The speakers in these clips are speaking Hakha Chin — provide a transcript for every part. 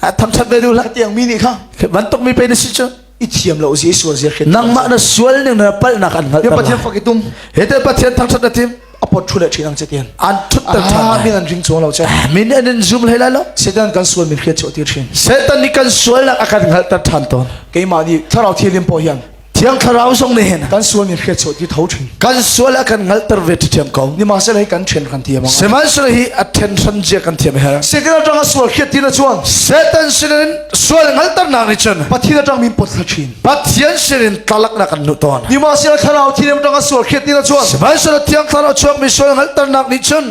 thangthat ve duh la tiang mi nih kha bantuk mi pe na si cu i thiam lo zi sual zi khi nangmah na sual ning na palnak an hngal ya pathian fak itum he te pathian thangthat na tim apot thule thinang che tien an thut tak tha min an ring chuang lo che min an in zum le la lo setan kan sual min hriat cho ti thin setan ni kan sual nak akan hngal ta than ton keima ni tharau thilim po hian Thiang thlarau zong nih kan sual mi hriat sawh ti tho thin. Kan sual a kan ngalter ve ti thiam ko. Ni ma se hi kan then kan thiam ang. Sihmanhsehlaw hi a then hran jia kan thiam her. Sikil atang a sual khiat tina chuan Satan sinin sual ngalter nak ni chen Pathin atang min pot sa thin. Pathian sinin tlalak na kan nu ton. Ni ma se thlarau thinem atang a sual khiat tina chuan Sihmanhsehlaw thiang thlarau chuak mi sual ngalter nak ni chen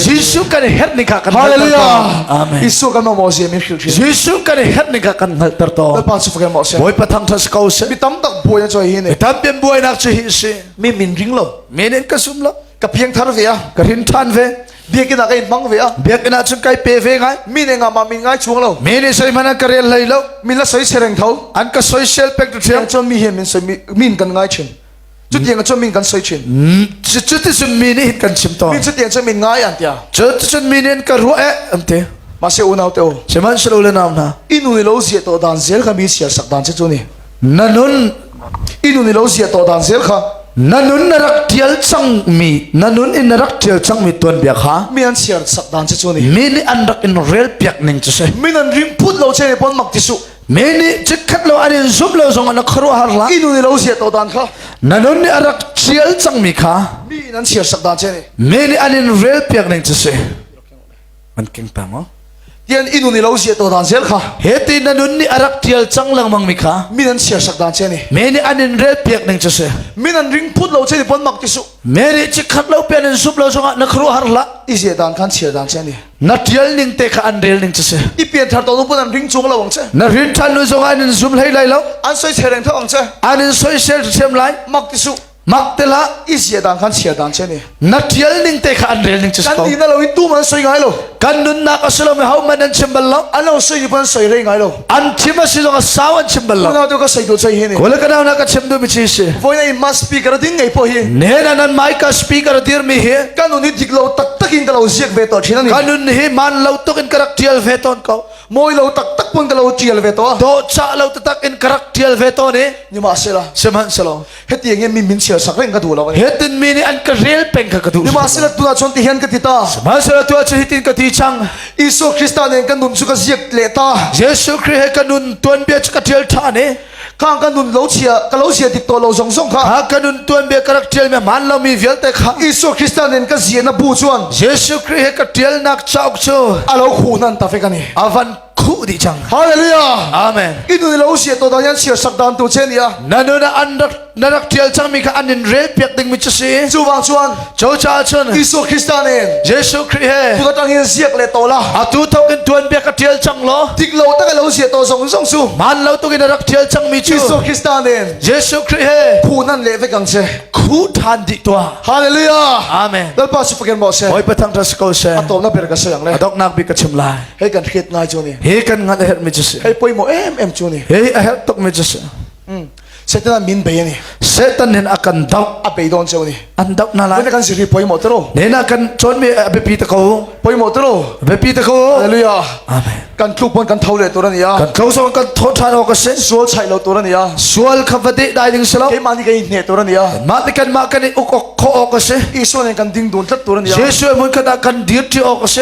Jesu kan herh ning kha kan Hallelujah Jesu kan mo zia mi khil thin Jesu kan herh ning kha kan hnal ter to Lalpa chu fagen mo se Bawipa thang tha ko se Mi tam tak buai na choi hi ne Tam pian buai nak chu hi si Mi min ring lo Menen ka sum lo Ka piang thar ve a Ka rin than ve Biak ina ka in mang ve a Biak ina chun kai pe ve ngai Mi ne nga ma min ngai chuang lo Mi ne sai mana ka rel lai lo Mi la soi sereng tho An ka soi sel pek tu thiam Cho mi hi min soi min kan ngai chin Cutiang cun min kan soi chin. Cuticun mi nih hin kan chim tawn. Min cutiang cun min ngai an tia. Cuticun mi nih ka ruah eh an ti. Ma se unau te o. Sihmanhselaw le nau hna. Inu ni lo zia to dan zel kha mi sial sak dan che cu ni. Na nun inu ni lo zia to dan zel kha. Na nun na rak tial cang mi na nun in na rak tial cang mi tuan bia kha. Mi an sial sak dan che cu ni. Mi nih an rak in rel piak ning chu se. Min an rim put lo che ne pon mak ti su. me nih chikkhat lo an in zumh lo zong an khuaruahhar la inu ni lo sia to dan kha nanun nih a rak ṭial cangmi kha mi nan chiar sak dan che ni me nih an in rel piak ning cu si man keng ta ngo tian inu ni lo sia to dan zel kha he ti nanun nih a rak ṭial cang lengmang mi kha mi nan chiar sak dan che ni me nih an in rel piak ning cu si mi nan ring phut lo che ni pon mak ti su me nih chikkhat lo pian in sup lo zongah na khuaruahhar la i sia dan khan chiar dan che ni na tial ning te kha an rel ning chu si i pian thar to nu pun an ring chung lo ang che na rin than lu zong an in zum hlei lai lo an soi se reng tho ang che an in soi sel them lai mak ti su mak tela i zia dan khan chia dan che ni na tial ning te kha an rel ning chu kan ni na lo i tu man soi ngai lo kan nun nak asilo me hau man an chim bal lo an lo soi pan soi re ngai lo An chim a si zong a sau an chim bal lo. Unau tu ka sei tu sei hi ni. Ko le ka na ka chim du mi chi si. Voi na must speaker ding ngai po hi. Ne na nan mai ka speaker dir mi hi. Kan nun hi dik lo tak takin ka lo ziak ve to chin ani. Kan nun hi man lo tok in ka rak tial ve ton ko. Moi lo tak tak pun ka lo tial ve to. Do cha lo tak in ka rak tial ve to ni. Ni ma se la. Sihman se lo. Hetiang hian mi min share sak reng ka duh lo ani. Hetin mi nih an ka rel peng ka ka duh. Lima sila tu chon ti hian ka ti ta. Sihmanhsehlaw tu cu hitin ka ti chang. Isu Krista nen kan nun chu ka ziak le ta. Jesu Krist he ka nun tuan bia chu ka tial tha ne. Kang ka nun lo chia ka lo sia dik to lo zong zong kha. Ka ka nun tuan bia ka rak tial me man lo mi vialte kha. Isu Krista nen ka zia na bu chuan. Jesu Krist he ka tial nak chauk chu. Alo khu nan ta fe ka ni. Avan khuh dih cang hallelujah amen inu lo si to da yan sia sak dan tu che lia nanu na an rak na rak tial chang mi kha an in rel piak ding mi chu si chu wang chuan cho cha chun Isu Krista ne Jesu Christ he tu ka tang hin siak le to la atu thokin tuan bia ka tial chang lo dik lo ta lo si to zong zong su man lo tu kin rak tial chang mi chu Isu Krista ne Jesu Christ he phu nan le ve kang che khu than di to hallelujah amen lalpa su fagen bo se oi pathang ta skol se atom na ber ka sayang le adok nak bi ka chim lai He kan hriat ngai cu ni. He kan ngat a herh mi cu si. He poi mo em em cu ni. He a herh tuk mi cu si. Mm. Satan an min bei ni. Satan in akan doh. A bei don cheu ni. An doh na lai. Ne kan siri poi mo tero. Ne na kan chon mi a bipi ta ko. Poi mo tero. Bipi ta ko. Hallelujah. Amen. Kan tlu pon kan thau le tura ni ya. Kan tlo so kan tho than ho ka sin. Sual chai lo tura ni ya. Sual kha vade dai ding selo. Ke ma ni kai ne tura ni ya. Ma te kan ma kan uk ok kho ok ka si. Isu ne kan ding don tlat tura ni ya. Jesu mun kha da kan dir ti ok ka si.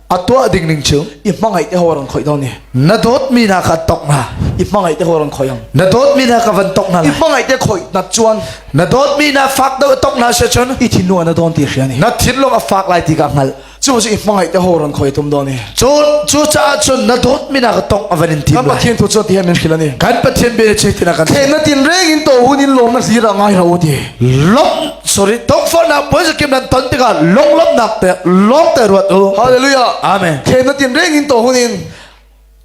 a tuah ding ning cu i hmangaih te hor an khoi dong ni na dawt mi na ka tok na i hmangaih te hor an khoi ang na dawt mi na ka van tok na i hmangaih te khoi na chuan na dawt mi na fak do tok na se chun i thin no na don ti hria ni na thin lom a fak lai ti ka ngal chu chu i hmangaih te hor an khoi tum do ni chu chu cha chun na dawt mi na ka tok a van in thin kan pathian tu chuan ti hen min hila ni kan pathian be che tina kan khen na tin reng in to hun in lom na sira ngai ro ti lom sorry tongfornak puai zakim nan ton tikah lunglawmhnak te lawm te ruat u hallelujah amen thena tin reng in to hunin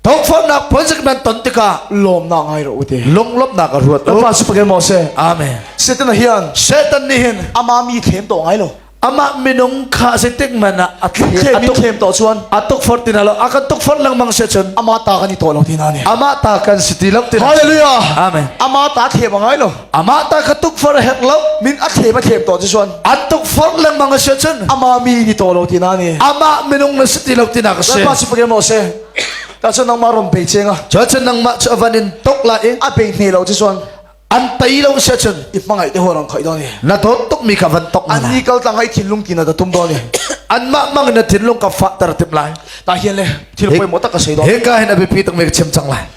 tongfornak puai zakim nan ton tikah lawmnak ngai ro u te lunglawmhnak ruat u pa supage mo se amen satan hian satan ni hin ama mi thlem to ngai lo ama minung kha se tik man a athlem mi thlem to chuan atuk for tina lo akan tuk for lang mang se chun ama ta kan i to lo tina ni ama ta kan si ti lam tina hallelujah amen ama ta thlem ngai lo amah ta kha tukforh a herh lo min a thlem a thlem to ti suan an tukforh lengmang a sian cun ama mi ni to lo ti na ni amah minung na si ti lo ti na ka se pa si pagem lo se ta cun nangmah rom pe cheng a cho cun nangmah cu avan in tok la i a pe ne lo ti suan an tai lo se cun i mangai te horang khoi do ni na to tuk mi ka van tok an ni kal tlang ai thinlung ti na ka tum do ni an ma mang na thinlung ka fa tar tip lai ta hian le thil poi mo tak ka sei do he ka hen abe pi tak me chem chang lai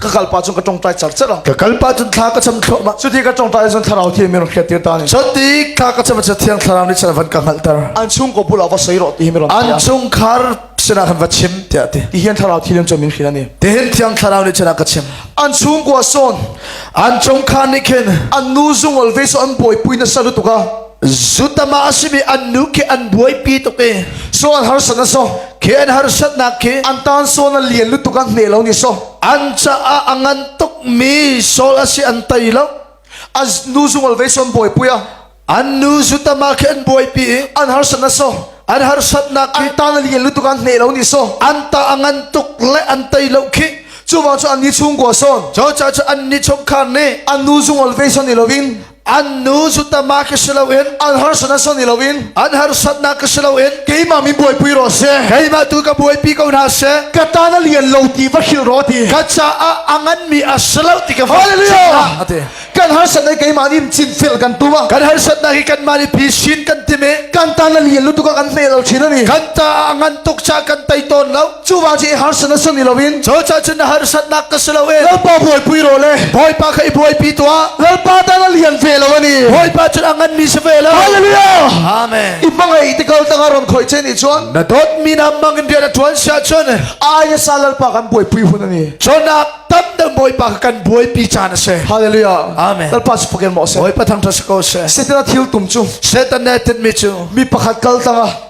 ka kal pa cun ka tong tlai char chara ka kal pa cun thla ka cham thlo ma cu ti ka tong tlai cun thlarau thi mi ron khet tir ta ni chon ti thla ka cham cha thiang thlarau ni chan van ka ngal tar an chung ko bu la va sei ro ti mi ron an chung khar sena kan va chim tia ti ti hian thlarau thi lim cho min khila ni te hin thiang thlarau ni chana ka chim an chung ko son an chung khan ni khen an nu zung alve so an boi pui na salu tuka zutama asimi an nu khi an buaipi tuk i sual har sana so khen har satnak khi an tan sual an lian lu tuk an hne lo ni so an caah a ngan tuk mi sol asi an tei lo az nu zungol ve son boi puya an nu zutama khi an buaipi i an har sana so an har satnak an tan lian lu tuk an hne lo ni so an ta a ngan tuk le an tei lo khi chu wa chu an ni chungwa son cho cha cha an ni chok khar ne an nu zungol ve son ni lovin an nu zutama ka si loin an harsatnak sang ni loin an harsatnak ka si loin keimah min buai pui ro se keimah tu ka buai pi ko hna se ka ta na lian lo ti va khil ro ti ka caah angan mi a si lo ti ka hallelujah ate kan harsat na keimah nim chin fil kan tuma kan harsat na hi kan ma ni pi shin kan time kan ta na lian lu tu ka kan hne dal chin ani kan ta angan tuk cha kan tai ton lo Cuba ci harsan asun ni loin Cho cha cun na harsatnak ka si loin Lalpa buai pui ro le Bawipa kha i buai pi tuah Lalpa ta na lian ve lo ani Bawipa cun a ngan mi si ve lo Hallelujah Amen I mangei te kal tanga ron khoi chen i chuan Na dot mi na mang in rian a tuan sia chun Aya sa Lalpa kan buai pui hun ani Chonak tam dang Bawipa kan buai pi chan ase Hallelujah Amen Lalpa su fakin mo se Bawipa thang thasa ko se Setan a thil tum chu Setan ne tit mi chu Mi pakhat kal tanga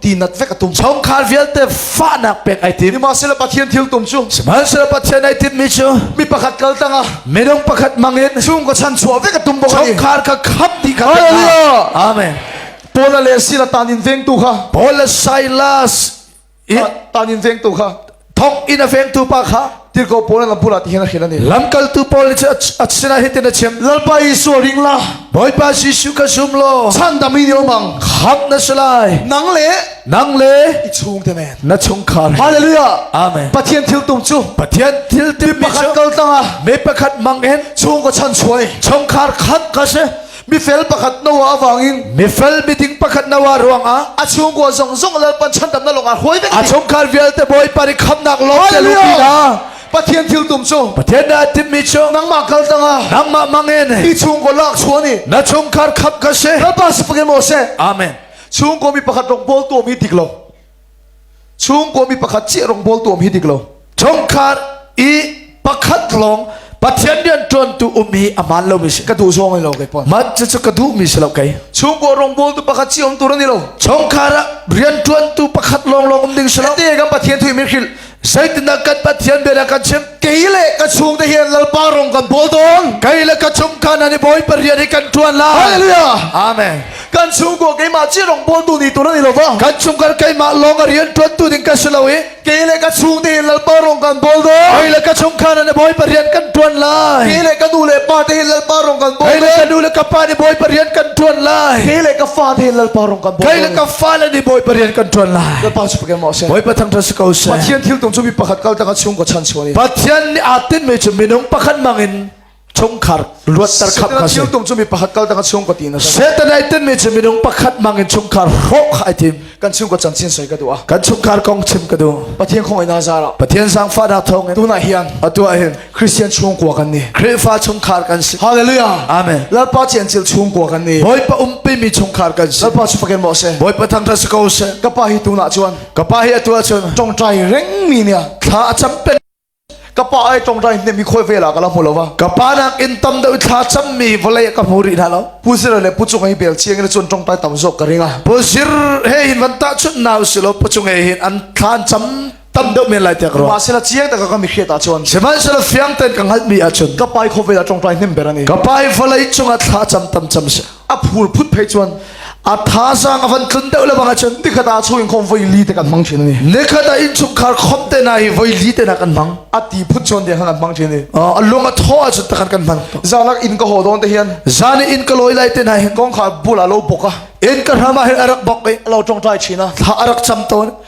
tinat vek atum chungkhar vialte fahnak pek ai tim nimahsela pathian thil tum cu sihmanhsela pathian ai tim mi cu mi pakhat kal tanga minung pakhat mangin chung ka chan chuah vek atum bok chungkhar ka khap di ka hallelujah amen Paul le Sila tanin vengtu kha Paul le Silas tanin vengtu kha thawk in a vengtu pa kha tirko pawl lam pura ti hian a khel ani lamkaltu paul ni a sina hitin a chem lalpa Jesu ring la bawipa Jesu ka sum lo chan dami ni omang khap na salai nang le nang le i chung te men na chung khar hallelujah amen pathian thil tum chu pathian thil tum pakhat kal tlanga me pakhat mang en chung ko chan chuai chung khar khat ka se Mifel pakhat no ah wangin mifel miding pakhat no ah ruangah a chungkua zong zong lal pan chan tamna longah huai ding a chungkhar vialte bawi pari khamnak lawng te lu pina Pathian thil tum cu Pathian na timmi cu nangmah kal tangah nangmah mangin mi chungkua lak chuani na chungkhar khap ka se kalpa sapake mo se amen chungkua mi pakhat rong bol to mi dik lo chungkua mi pakhat chiah rawngbawl tu um hi dik lo chungkhar i pakhat lawng pathian rian ṭuantu um hi aman lo mi si ka duh zawng lo kei pon man chu ka duh mi si lo kei chungkua rawngbawl tu pakhat chi um tur ani lo chungkhar ah rian ṭuantu pakhat lawng lawng um ding si lo te kan pathian thuih mi khil Saitinah kan Pathian biana kan chim kei le ka chung te hian lalpa rong kan pawl dong kai le ka chung kan ani boy pariat hi kan tuan la hallelujah amen kan chung ko ke ma chi rong bol tu ni tu ni lo ba kan chung kan kai ma long a rian tuan tu ding ka si lo i ke le ka chung te lalpa rong kan bol dong kai le ka chung kan ani boy pariat kan tuan lai ke le ka nu le pa te lalpa rong kan bol kai le ka nu le ka pa ni boy pariat kan tuan lai ke le ka fa te lalpa rong kan bol kai le ka fa le ni boy pariat kan tuan lai Pathian thil tung cu mi pakhat kal tangah chung ko chan chuani. Pathian nih aa tin mi cu minung pakhat mangin chungkhar luatter khap kha si. tung cu mi pakhat kal tangah chung ko tin asi. Satan ai tin mi cu minung pakhat mangin chungkhar hrok khai tim. Kan chung ko chan chin soi ka du a. Kan chungkhar kong chim ka du. Pathian khong ina zara. Pathian sang fa da thong in. Tunah hian atu ah hin Christian chungkua kan ni Khrihfa chungkhar kan si Hallelujah Amen Lalpa ci an cil chungkua kan ni Bawipa um pimi chungkhar kan si Lalpa cu fakin maw se Bawipa thang thas ko se ka pa hi tu na chuan ka pa hi atu chun tongtai reng mi nia thla a cham pen ka pa ai tongtai ne mi khoi ve la kala hmulowa ka pa nak in tam deu thla cham mi vale ka hmu ri na lo pu sir le pu chung ai bel chiang le chun tongtai tam zo ka ringa pu sir he hin van ta chun naw silo pu chung he hin an thlan cham tam deuh men lai tiah ka ruah sela chiang taka ka mi hriat ah chuan sihmanhsehlaw fiang ten ka hngalh mi ah chun ka pai khawvel a tongtai hnem berang i ka pai vawlei cungah thla cham tam cham se a phul phut phei chuan a tha sang a van tlun deuh le bang chun nikhat a chu in khom voi li te kan mang chin ani nikhat a in chuk khar khom te na hi voi li te na kan mang a ti phut chon dia kan mang chin ni a lung a tho a chun kan kan mang zalak in ka ho don te hian zani in ka loi lai te na hi kong kha bula lo boka in ka rama hi arak bok e lo tong trai china tha arak cham ton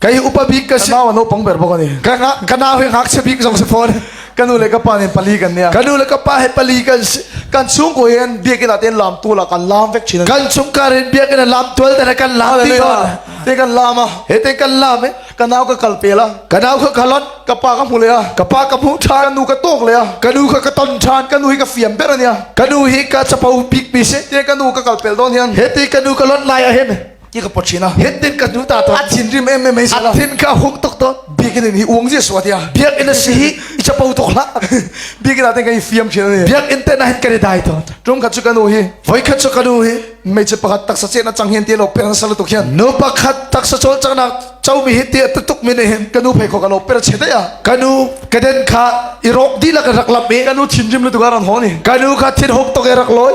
Kai upa bik ka si. Kanau an upang ber bok ani. Kana hui ngak se bik zong se phone. Kanu le ka pa nin pali kan nia. Kanu le ka pa he pali kan si. Kan chung ko yen biak ila ten lam tu la kan lam vek chin. Kan chung ka rin biak ina lam tual tena kan lam ti kon. Te kan lam a. He te kan lam eh. Kanau ka kal pe la. Kanau ka kalon ka pa ka mu le a. Ka pa ka mu than. Kanu ka tok le a. Kanu ka ka ton than. Kanu hi ka fiam ber ania. Kanu hi ka chapau bik mi se. Te kanu ka kal pel don hian. He te kanu ka lon lai a hen. ti ka pot china het tin ka hnu ta to a thin rim em em mai sala thin ka huk tok to biakin in hi uang je suwa tia biak in si hi i chapo tok la biakin ate ka i fiam china ne biak in te na hit kare dai to tum khat chu kanu hi voi khat chu kanu hi mei che pakat taksa che na chang hin ti lo per na sala to khian no pakhat taksa chol changna chaumi hi ti tuk min hin kanu phei kho kanu per che ya kanu kaden kha i rok di la ka rak lap me kanu thin rim lu tu garan honi kanu kha thin hok to ke rak loy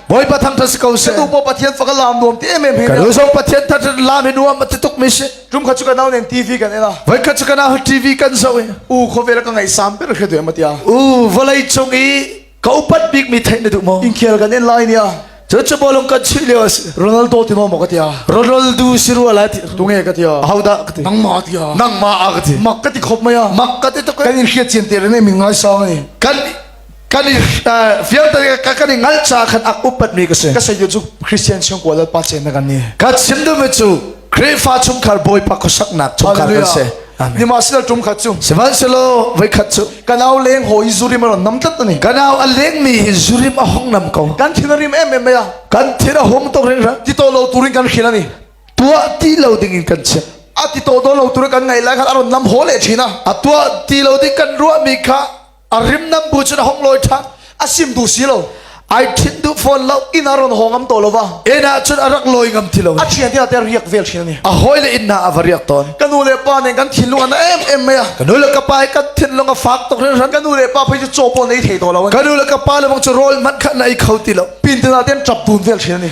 Bawipa thang tha si ko se. Ka nu Pathian fa ka lam nuam ti em em he. Ka nu song Pathian thang tha lam hi nuam ti tuk mi si. Tum kha chu ka nau nen TV kan ena. Vai kha chu ka nau TV kan so e. U kho ve la ka ngai sam ber khe de ma tia. U volai chung i ka upat bik mi thai na du mo. In khel kan en lai nia. Chu chu bolong kan chi leo as. Ronaldo ti mo mo ka tia. Ronaldo si ru ala ti. Tunge ka tia. Hau da ka ti. Nang ma tia. Nang ma a ka ti. Mak ka ti khop maya. Mak ka ti to kan in hriat chien te ne min ngai sang ani. Kan kan i vialte ka kan i ngal ca khan ak upat mi ka si ka sayu cu christian chung ko lalpa chen na kan ni ka chim dum cu Khrihfa chungkhar bawipa khosak nak chungkhar kan se ni ma sila tum khat chu sivan selo vai khat chu kanau leng ho i zurim ron nam tat ani kanau a leng mi hi zurim a hong nam ko kan thin rim em em ya kan thin a hom to rin ra ti to lo turin kan khila ni tua ti lo ding in kan che a ti to do lo tur kan ngai lai khan aron nam ho le china a tua ti lo ding kan ruwa mi kha a rimnam bu cun a hong loi ṭha a sim du si lo ai ṭhit duh fawn lo inn a ron hong ngam to lo va ena cun a rak loi ngam ti lo a ṭhian tiah te riak vel ṭhin ni a hoi le inn na a va riak ton ka nu le pa nen kan thinlung an em em mai a ka nu le ka pa hi kan thinlung a fak tok rin ran ka nu le pa phei chu chopo nei thei to lo ka nu le ka pa le bang chu rol man khat na i kho ti lo pin tina ten ṭap dun vel ṭhin ni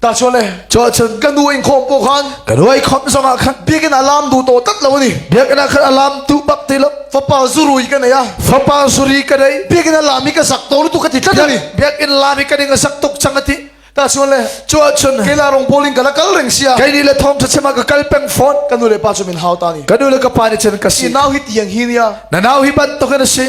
Tachole Chochan kan nu in khom po khan kan nuai khom zong ah khan biakin alam du to tat lo ni biakin ah khan alam tu bak te lo fapa zurui ka neya fapa suri ka dei biakin alam hi ka sak to tu ka ti tlat ni biakin lam hi ka ding sak tuk chang ati ta chuan le chua chun ke la rong bowling kala kal reng sia kai ni le thong tha chema ka kal peng phone kanu le pa chu min hau ta ni kanu le ka pa ne chen ka si now hi tiang hi nia na now hi ban to kana si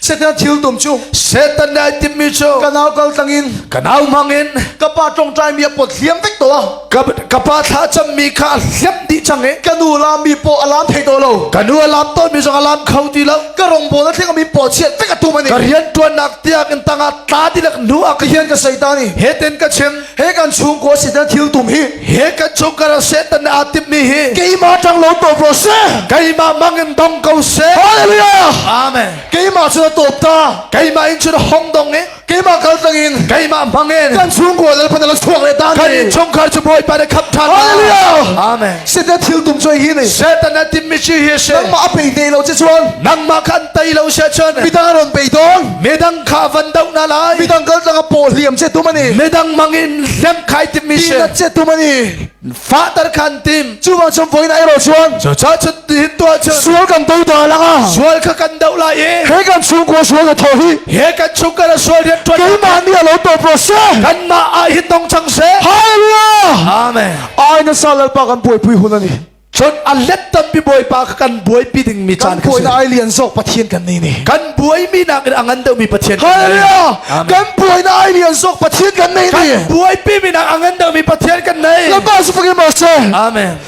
Satan thil tum cu Satan dai tim mi cu ka nau kal tlangin ka nau hmangin ka pa tongtai mi a pot hliam vek to ka ka pa thla cham mi kha a hliam dih chang i ka nu lam mi po alam thei to lo ka nu alam ton mi zong alam kho ti lo ka rong bol theng mi po chiat vek atu mani ka rian tuan nak tiak in tanga tla ti lak nu a ka hian ka seitani heten ka chen he kan chungkua sidan thil tum hi he kan chungkara setan na atim mi hi keima tang lo to bro se keima mangin dong ko se hallelujah amen keima chu na top ta keima in chu na hong dong e keima kal tangin keima mangin kan chungkua dal phana la chuak le ta kan chungkar chu boi pa na khap tha hallelujah amen sidan thil tum choi hi ni setan na tim mi chi hi se nangma ape te lo che chuan nangma khan tai lo se chen pita ron pe don Medang kha van do na lai. Midang kal tlang paw hliam che tum ani. Medang mangin hliam khai tim mi she. Dinat che tum ani. Fa tar khan tim. Chu wang chum voin ai ro chuan. Cha cha chut hin tua chun. Sual kan do da langa. Sual kha kan do lai e. He kan chung ko sual ka tho hi. He kan chung ka sual riat twa. Keimah ni lo to pro se. Kan ma ai hin dong chang se. Hallelujah. Amen. Ai na sa lalpa kan poi pui hun ani. Cun a let tampi Bawipa kha kan buaipi dingmi caan kan buainak ai lian zawk Pathian kan ni ni. Kan buaimi nakin a ngan deuhmi Pathian kan ni. Hallelujah! Kan buainak ai lian zawk Pathian kan ni ni. Kan buaipimi nak a ngan deuhmi Pathian kan ni. Lama su phangin ma se. Amen.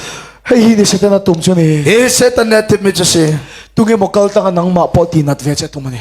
Hei hi ni setan a tum chu ni. Hi setan ne tip mi chu si. Tunge mo kal tanga nangma po ti nat ve che tum ani.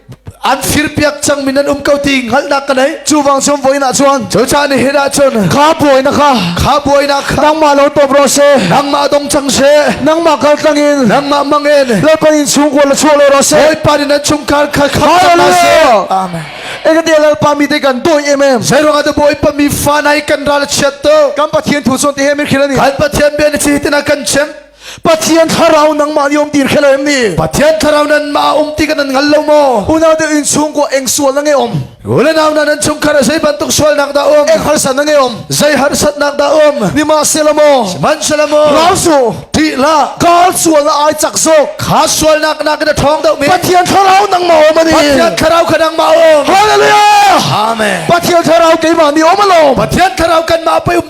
an firpiak cang min an um ko ti hngalhnak ka nei chu wang som voin ah chuan chu cha ni hira chun kha buai na kha kha buai na kha nangma lo top ro se nangma dong chang se nangma kal tlangin nangma mangen lalpan in chung ko la chuo lo ro se oi pan in chung kar kha kha na se amen ekati lalpa mi te kan doi emem zairanga te boy pa mi fa nai kan ral chiat to kam pathian thu son te hemir khilani kan pathian ben chi tina kan chem Pathian thlarau nangmah ni um dir khelo em ni Pathian thlarau nan ma um ti kan nan ngal lo maw unau deuh in chungkua eng sual na nge om ule nau na nan chungkhar sei bantuk sual nak da um eng harsat na nge om zai harsat nak da um ni ma se la maw man se la maw rau su ti la kal sual na ai chak zo kha sual nak na ka thong deuh mi Pathian thlarau nang ma om ani Pathian thlarau ka nang ma om hallelujah amen Pathian thlarau keima ni om lo Pathian thlarau kan ma pe um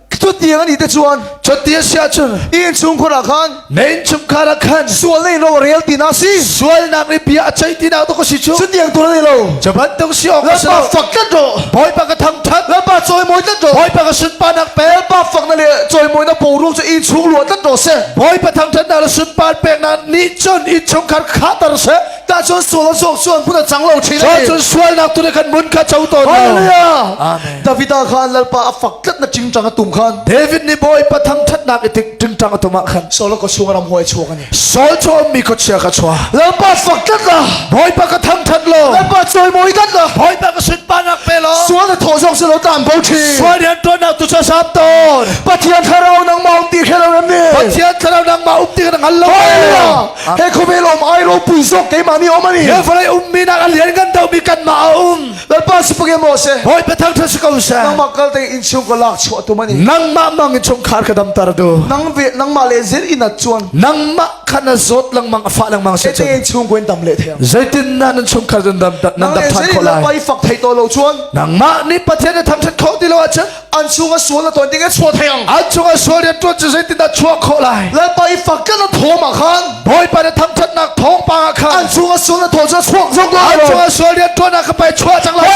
Cuti an ite chuan Cuti a siah cun in chung khor ah khan men chung kar ah khan sual nei ro rel ti na si sual nak ri bia a chei ti na to ko si chu cutiang tu nei lo jaban tung si ok si lo fak tlat ro boi pa ka thang that lapa choi moi tlat ro boi pa ka sun pa nak pel pa fak na le choi moi na po ru chu in chung lua tlat ro se boi pa thang that na la sun pa pek na ni chon in chung kar kha tar se Tahcun sual zawk cu an hmun a cang lo ṭhin i Cun sualnak tu nih khan mun kha co tawn lo. Hallelujah! Amen. David ah khan lalpa a fak tlat na ṭingṭang a tum khan David nih bawipa thangṭhatnak i tik ṭingṭang a tum ah khan Saul ka chung ram huai chuak ani Saul cu a ummi khuachia ka chua lalpa fak tlat la bawipa ka thangṭhat law lalpa chawimawi tlat la bawipa ka sunparnak pe law sual a thawh zawk cu lo tlan bo ṭhi sual rianṭuannak tu cu sap tawn Pathian thlarau nangmah um ti khe lo nan ni Pathian thlarau nangmah um ti kan hngal lo Hallelujah! he khawvel om ai ropui zawk keimah ni om ani he vawlei um mi nak lian kan do mi kan ma a um lalpa sipage mo se hoi pathang tha si ko sa nang ma kal te in chung ko lak chua tu mani nang ma mang in chung khar ka dam tar do nang ve nang ma le zin in at chuan nang ma khana zot lang mang afa lang mang se che in chung ko in dam le the zeitin na nan chung khar dan dam nan dam than kholai pai fak thai to lo chuan nang ma ni pathian tham chat kho ti lo a chan an chung a sual a ton ding chuah thai ang an chung a sual rian tuan cu zeitindah chuah khawh lai lalpa i fakin a thawm ah khan bawipa na thangthatnak thawng pa ah khan an chung a sual a thawh cu chuak zong lo an chung a sual rian tuan ah ka pai chuah cang lai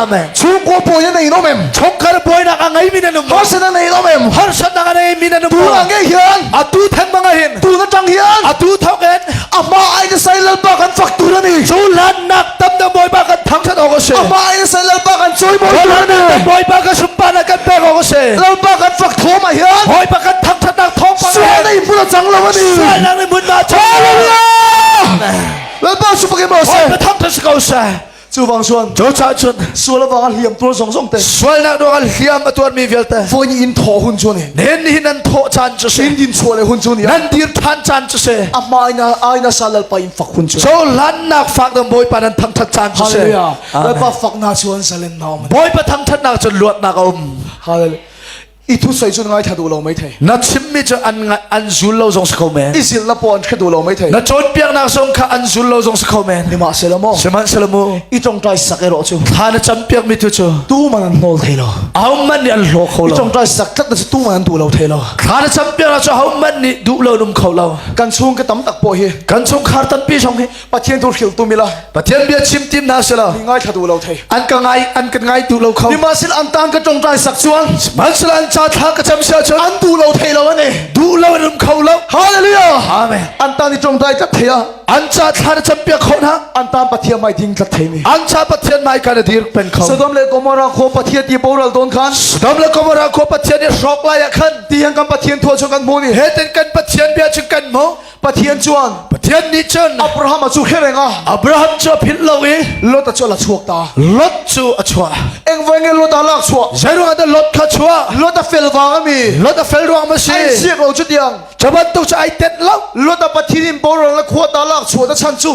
amen chungkua pawi na in om em chongkar buainak a ngei mi na num harsana nei om em harsatna a nei mi na num tu a ngei hian a tu theng bang a hin tu na tang hian a tu thok en Amah ai na sai lalpa kan fak tu na ni. Cu lannak tam na bawipa kan thangthat awk a si. Amah ai na sai lalpa kan cui bawi tu na ni. Bawipa kan sumpa na kan pek awk a si. Lalpa kan fak thawm ah hian. Bawipa kan thangthat nak thawm pa. Sual na in puna cang lo ani. Sual na in mun ma. Hallelujah. Lalpa sumpa ke ma se. Bawipa thangthat si ko se. Chuvang chuan Cu cah cun sual wang a hliam tur zong zong te sualnak dong ah hliam a tuarmi vialte voi ni in thaw hun cu ni nen ni nan thawh chan cu se hrin din chuah le hun cu ni nan dir than chan cu se a hma ina aina sa lalpa in fak hun cu cho lannak fak dang bawipa nan thangthat chan cu se hallelujah Lalpa fak na chuan salen na om Bawipa thangthatnak cun luatnak a um hallelujah i thusawi cu ngai tha duh lo mai thei na chimmi cu an an zul lo zong si ko men i zil la po an kha duh lo mai thei na cawnpiaknak zong kha an zul lo zong si ko men ni ma se lo mo sihmanhselaw mu i tongtai sak ero cu thla na campiak mi tu cu tu man an nawl thei lo au man nih an hlo kho lo tongtai sak tlat na tu man an duh lo thei lo thla na campiak na cu au man nih duh lo num kho lo kan chung ka tam tak po hi kan chung khar tampi chong hi Pathian tu hriltu mila Pathian bia chim tim hna sela mi ngai thadu lo thei an ka ngai an kan ngai tu lo kho ni ma sil an tang ka tong trai sak chuang man sila an cha thla ka cham sia chon an du lo thei lo ane du lo rum kho lo hallelujah amen an ta ni tong trai ka theya an cha thla da cham pia khon ha an ta pathian mai ding tlat thei mi an cha pathian mai ka dir pen kho Sodom le Gomorrah kho pathian ti boral don khan Sodom le Gomorrah kho pathian ni hrok la ya khan ti han kan pathian thua chu kan mu ni he ten kan pathian bia chu kan mo Pathian chuan Pathian nih cun Abraham a chu khereng a Abraham cu a philh lo i Lot a chu ala chuak ta Lot cu a chuah eng vai nge Lot a lak chuah zeiruang ah Lot kha chuah Lot a fel wang ami Lot a fel ruang ma si ai siak lo cu tiang cu bantuk cu ai tet lo Lot a pathin in borang la khua ta lak chuah ta chan cu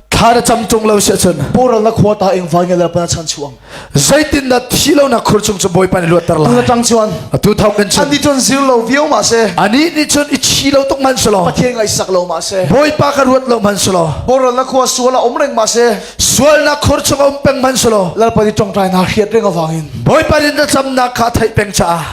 thla na cam tung lo si ahcun poral na khua ta ing vai nge la pa chan chuang zeitin na thi lo na khur chung chu boi pan luat ter la na tang chuan atu thau kan chan ani tun zir lo viau ma se ani ni chun i chi lo tok man selo pathian ngai sak lo ma se boi pa ka ruat lo man selo poral na khua suala om reng ma se sual na khur chung om peng man selo lal pa ni tong trai na khiat reng awang in boi pan in na cham na kha thai peng cha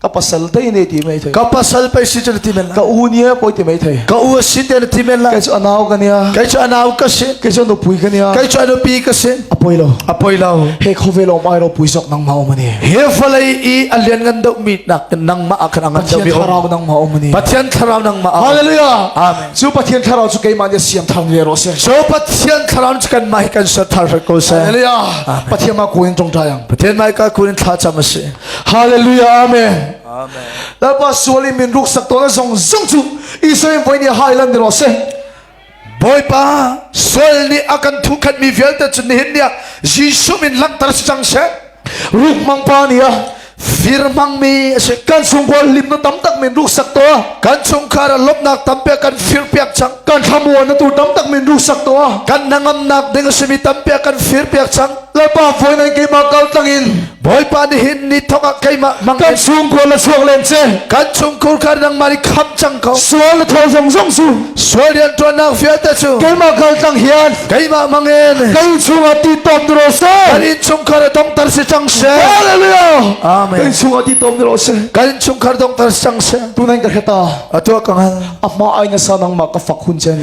ka pasal te ne ti mai thei ka pasal pe si chu ti men la ka u ni ko ti mai thei ka u si te ti men la kai chu anau ka nia kai chu anau ka si kai chu nu pui ka nia kai chu anu pi ka si apoi lo apoi lo he khove lo mai ro pui sok nang ma mani he falai i alian ngan do mi nak nang ma akhan angan do mi tharau nang ma mani pathian tharau nang ma hallelujah amen chu pathian tharau chu keima nia siam thang ye ro se so pathian tharau chu kan mai kan sat thar ko se hallelujah pathian ma ko in tong tayang pathian mai ka ko in tha cham si Hallelujah amen amen Lapa sual in min ruk sak to na zong zong chu Israel voi ni highland ni ro se Boipa sual ni akan thu khat mi vialte chu ni hin nia Jesu min langhter si chang se ruk mang pa ni a fir mang mi ase kan sung bol lim no tam tak min ruk sak to kan chung khara lop nak tam pe kan fir piak chang kan thlamuan na tu tam tak min ruk sak to kan nangam nak ding simi tam pe kan fir piak chang Lalpa foi nan keimah kal tlangin Bawipa nih hin ni thok ah keimah hmang kan chungkhur la suak len che kan chungkhur kha nang mari kham cang ko sual tho zong zong su sual rian tuan nak vialte cu keimah kal tlang hian keimah mangin kan chunga ti tom dro se kan in chungkhar dong tar se chang se hallelujah amen kan chunga ti tom dro se kan chungkhar dong tar chang se tu nan ka kheta atua kangan amma ai na sanang ma ka fak hun chen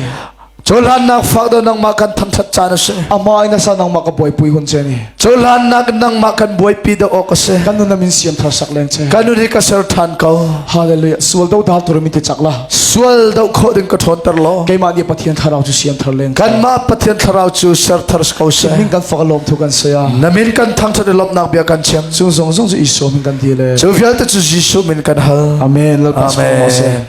Cohlannak fak do nangmah kan thangthat caan a si. A hma in asa nangmah ka buaipui hun che ni. Cohlannak nangmah kan buaipi da awk a si. Kan nun min siam thar sak leng che. Kan ri ka ser than ko. Hallelujah. Sual do da tu mi te chak la. Sual do kho din ka thon ter lo. Keimah nih Pathian thlarau cu siam thar leng. Kan ma Pathian thlarau cu ser thar ko se. Min kan fak lom thu kan saya. Namin kan thangthat lop nak bia kan chem. Chung zong zong cu Iso min kan di le. Cu vialte cu Jesu min kan hal. Amen. Amen.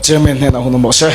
Chairman hnenah hun um u sih.